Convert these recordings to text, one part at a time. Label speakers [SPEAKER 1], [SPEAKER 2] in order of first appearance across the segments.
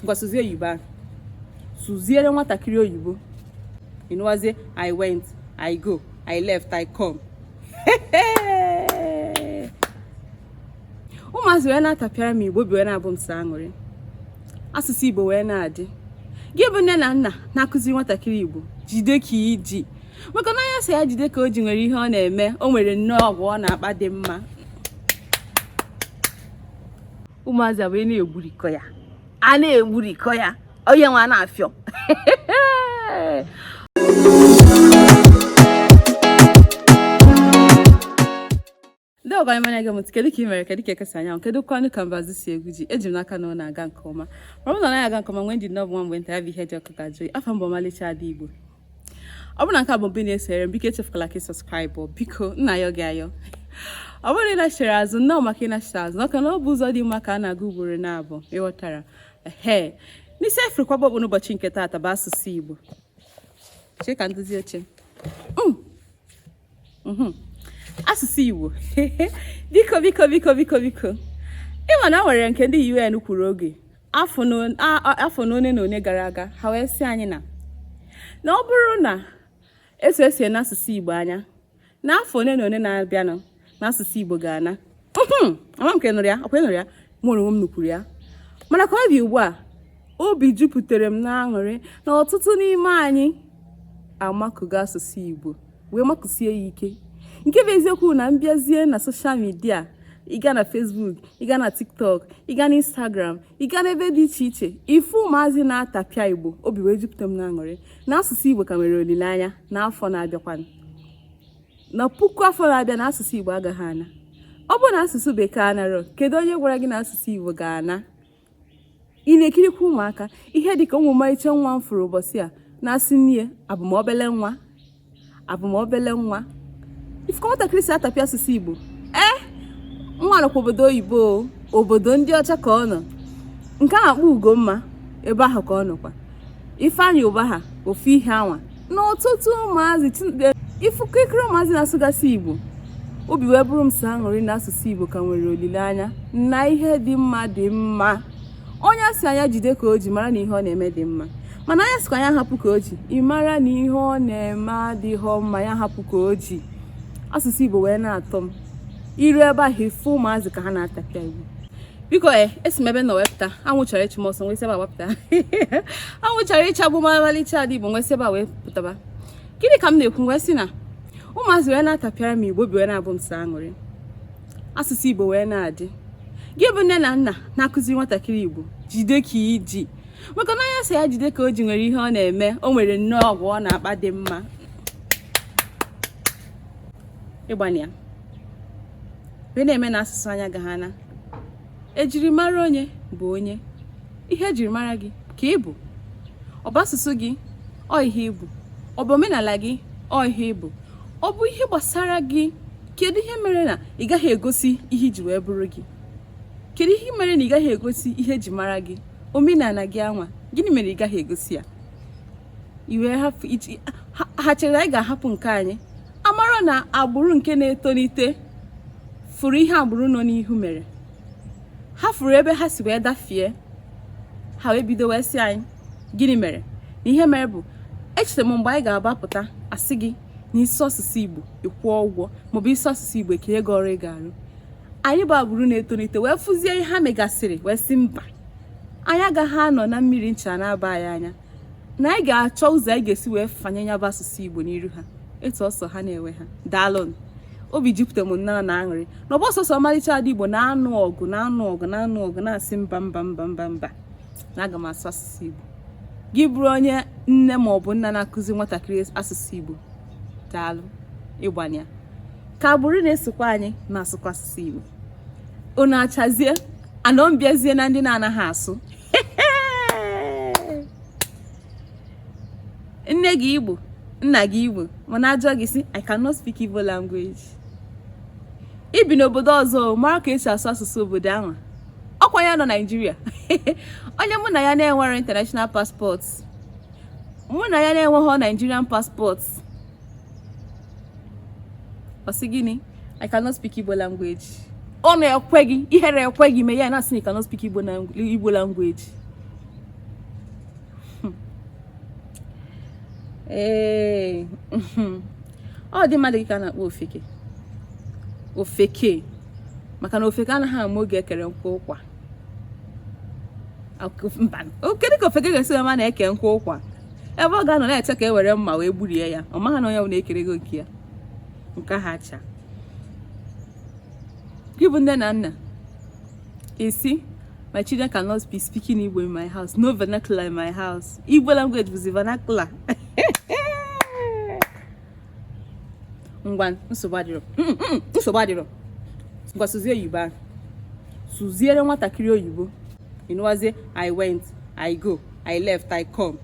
[SPEAKER 1] ngwa sụzie oyibo ahụ sụziere nwatakịrị oyibo ịnụwazie i went i go i left i come ụmụazị wee na-atapịara m igbo obi wee na-abụ m sọ aṅụrị asụsụ igbo wee na-adị gị bụ nne na nna na-akụziri nwatakịrị igbo jide ka i ji maka na onye a sị ya jide ka o ji nwere ihe ọ na-eme o nwere nnọọ agwa ọ na-akpa dị mma ụmụazị wee na-egburikọ ya a na-egburikọ ya onye nwa na-afịọ ndị ọgwa anyị manya gị mụtụ kedu ka ị mere kedu ka eke si anya anwụ kedukwanụ ka mbazụ si egwu ji eji m n'aka na ọ na-aga nke ọma ma ọ bụ na ọ naghị aga nke ọma nwee ndidi na ọ bụ nwa mgbe nta ya bụ ihe dị ọkụ ga-ajụ oyi afa m bụ ọmalịcha ada igbo ọ bụrụ na nke a bụ mbụ ị na-esere m biko echefukwala ka ị subscribe biko m na-ayọ gị ayọ ọ bụrụ na ị nachiri azụ nnọọ maka ịnachite azụ maka na ọ bụ ụzọ dị mma ka a na-aga ugboro naabọ ị ghọtara ehe na isi a fụrụ kwaba okpu n'ụbọchị nke taata bụ asụsụ Igbo chee ka nduzi oche mm. mm-hmm. asụsụ Igbo biko biko biko biko biko ị ma na e nwere nke ndị UN kwuru oge afọ na one na one gara aga ha wee sị anyị na na ọ bụrụ na etu e si ene asụsụ Igbo anya n'afọ one na one na-abịanụ na asụsụ Igbo ga-ana ama m ka ị nụrụ ya ọkwa ị nụrụ ya mụwa onwe m nụkwuru ya mana ka ọ dị ugbu a obi jupụtara m n'aṅụrị na ọtụtụ n'ime anyị amakụgo asụsụ Igbo wee makụsie ya ike nke bụ eziokwu na ị bịazie na social media ị gaa na facebook ị gaa na tiktok ị gaa na instagram ị gaa n'ebe dị iche iche ị fụ ụmụazị na-atapịa igbo obi wee jupụta m n'aṅụrị na asụsụ igbo ka nwere olileanya n'afọ na-abịakwanụ na puku afọ na-abịa na asụsụ igbo agaghị ana ọ bụrụ na asụsụ bekee anarọ kedu onye gwara gị na asụsụ igbo ga-ana ị na-ekirikwa ụmụaka ihe dịka ofu ọmarịcha nwa m fụrụ ụbọchị a na-asị nne abụ m obele nwa abụ m obele nwa ị fụ ka nwatakịrị si atapịa asụsụ igbo ee eh, nwa nọkwa obodo oyibo obodo ndị ọcha ka ọ nọ nke a na-akpọ ugomma ebe ahụ ka ọ nọkwa Ifeanyi ebe ahụ ofu ihe anwa na ọtụtụ ụmụazị ị fụ kịrịkịrị ụmụazị na-asụgasị Igbo obi wee bụrụ m sọ aṅụrị na asụsụ Igbo ka nwere olileanya na ihe dị mma dị mma onye a sị na ya jide ka o ji mara na ihe ọ na-eme dị mma mana onye a sịkwa ya hapụ ka o ji ị mara na ihe ọ na-eme adịghọ mma ya hapụ ka o ji asụsụ Igbo wee na-atọ m i rue ebe ahụ ị fụ ụmụazị ka ha na-atapịa Igbo biko e eh, esi m ebe a wee pụta anwụ chọrọ ịchụ m ọsọ m wee si ebe a wee pụta anwụ chọrọ ịchagbu m ọmalịcha ada igbo m wee si ebe a wee pụtaba gịnị ka m na-ekwu m wee sị na ụmụazị wee na-atapịara m igbo obi wee na-abụ m sọ aṅụrị asụsụ igbo wee na-adị gị bụ nne na nna na-akụzi nwatakịrị igbo jide ka i ji maka na onye a sị ya jide ka o ji nwere ihe ọ na-eme o nwere nnọọ agwa ọ na-akpa dị mma ị gbanịa wee na-eme na asụsụ anyị agaghị ana ejirimara onye bụ onye ihe ejirimara gị ka ị bụ ọ bụ asụsụ gị ọ ihe ị bụ ọ bụ omenala gị ọ ihe ị bụ ọ bụ ihe gbasara gị kedu ihe mere na ị gaghị egosi ihe i ji wee bụrụ gị kedu ihe mere na ị gaghị egosi ihe eji mara gị omenala gị anwa gịnị mere ị gaghị egosi ya iwe ha chere anyị ga-ahapụ nke anyị amarọ na agbụrụ nke na-etolite fụrụ ihe agbụrụ nọ n'ihu mere ha fụrụ ebe ha si wee dafie ha wee bido wee sị anyị gịnị mere na ihe mere bụ echere m mgbe anyị ga-agbapụta a sị gị na ị sụọ asụsụ igbo ị kwụọ ụgwọ maọbụ ị sụọ asụsụ igbo e kee gị ọrụ ị ga-arụ anyị bụ agbụrụ na-etolite wee fụzie ihe ha megasịrị wee sị mba anyị agaghị anọ na mmiri ncha na-aba anyị anya na anyị ga-achọ ụzọ anyị ga-esi wee fanye ya bụ asụsụ Igbo n'iru ha etu ọ sọ ha na-enwe ha daalụnụ obi jupụta m nnọọ na aṅụrị na ọ bụrọ sọsọ ọmarịcha ada Igbo na-anụ ọgụ na-anụ ọgụ na-anụ ọgụ na-asị mba mba mba mba mba na aga m asụ asụsụ Igbo gị bụrụ onye nne ma ọ bụ nna na-akụzi nwatakịrị asụsụ Igbo daalụ ị gbanịa ka agbụrụ na-esokwa anyị na-asụkwa asụsụ Igbo unu achazie ana m bịazie na ndị na-anaghị asụ nne gị igbo nna gị igbo mana a jụọ gị ị sị i cannot speak igbo language i bi n'obodo ọzọ mara ka e si asụ asụsụ obodo ahụ ọkwa onye nọ nigeria onye mụ na ya na-enwere international passport mụ na ya na-enweghị nigerian passport ọ sị gịnị I cannot speak Igbo language ọ na-ekwe gị ihere ekwe gị mee ya na-asị na I cannot speak Igbo language hmm. ee hmm. ụdị mmadụ gị ka a na-akpọ ofeke ofeke maka na ofeke anaghị ama oge e kere nkụ ụkwa kedu ka ofeke ga-esi ma na-eke nkụ ụkwa ebe ọ ga-anọ na-eche ka e were mma wee gburie ya ọ maghị na onye bụ na-ekere gị oke ya nke kacha gị bụ nne na nna ị sị my children cannot be speaking Igbo in my house no vernacular in my house Igbo language bụzi vernacular ngwa nsogbu adịrọ mm, mm, mm, nsogbu adịrọ ngwa sụzie oyibo ahụ sụziere nwatakịrị oyibo ị nụwazie i went i go i left i come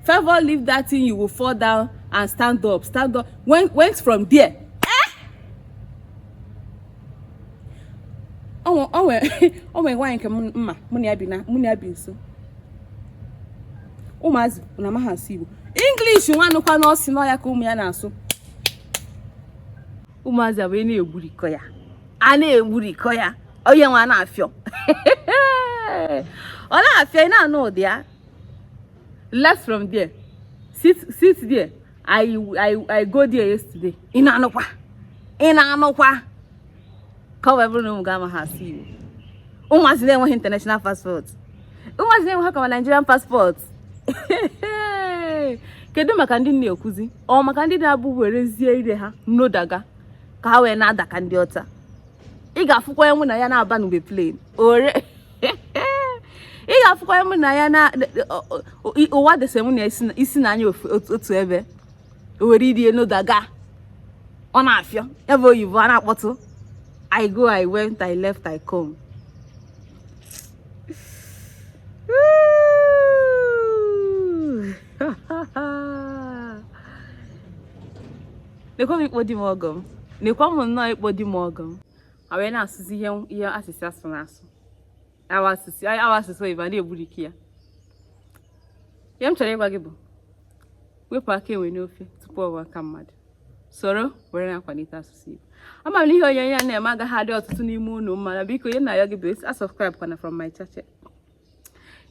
[SPEAKER 1] Favor leave that thing you will fall down and stand up stand up went, went from there o nwere nwaanyị nke m ma mụ na ya bi na mụ na ya bi nso ụmụazị na amaghị asụ Igbo English nwanụ kwanụ ọ sị na ọ ya ka ụmụ ya na-asụ ụmụazị abụọ na-egburikọ ya a na-egburikọ ya onye nwa na-afịọ ọ na-afịọ ị na-anụ ụdị ya left from there sit sit there I, I, I go there yesterday. Ị na-anụkwa? Ị na-anụkwa? Ka ọ bụrụ na ụmụ gị amaghị asụ Igbo. Ụmụazị na-enweghị international passport. Ụmụazị na-enweghị common Nigerian passport. Kedu maka ndị na-ekwuzi? Ọ maka ndị na-abụ werezie ire ha nodaga ka ha wee na-ada ka ndị ọcha. Ị ga-afụkwa enwe na ya na-abanụbe plane. Ore. ị ga-afụkwa mụ na ya na ụwa dese mụ na ya si na anya otu ebe o were ire nodaga ọ na-afịọ ebe oyibo a na-akpọtụ i go i went i left i come nekwa m ikpo di m ọgọ m nekwa m nnọọ ikpo di m ọgọ m ha wee na-asụzi ihe ihe a sị sị asụna asụ a wa asụsụ a wa asụsụ oyibo na-egburikọ ya ihe m chọrọ ịgwa gị bụ wepụ aka enwe n'ofe tupu ọ ghọọ aka mmadụ soro were na-akwalite asụsụ Igbo ama m na ihe onyonyo a na-eme agaghị adị ọtụtụ n'ime unu mma mana biko ihe m na-ayọ gị bụ a unsubscribe kwana from my channel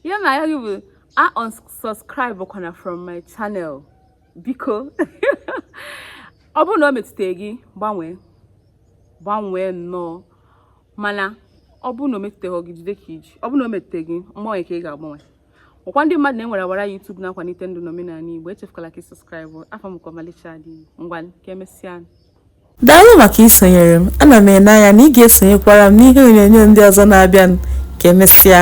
[SPEAKER 1] ihe m na-ayọ gị bụ a unsubscribe kwana from my channel biko ọ bụrụ na o metụta gị gbanwee gbanwee nnọọ mana ọ bụrụ na o metụtaghị gị jide ka i ji ọ bụrụ na o metụta gị mgbanwe ka ị ga-agbanwe ọ kwa ndị mmadụ na-ewere ọwara YouTube na-akwalite ndụ na omenala Igbo echefukwala ka ị subscribe afọ m ka ọmalịcha dị ngwa ka emesịa daalụ
[SPEAKER 2] maka isonyere m ana m ene anya na ị ga-esonyekwara m n'ihe onyonyo ndị ọzọ na-abịanụ ka emesịa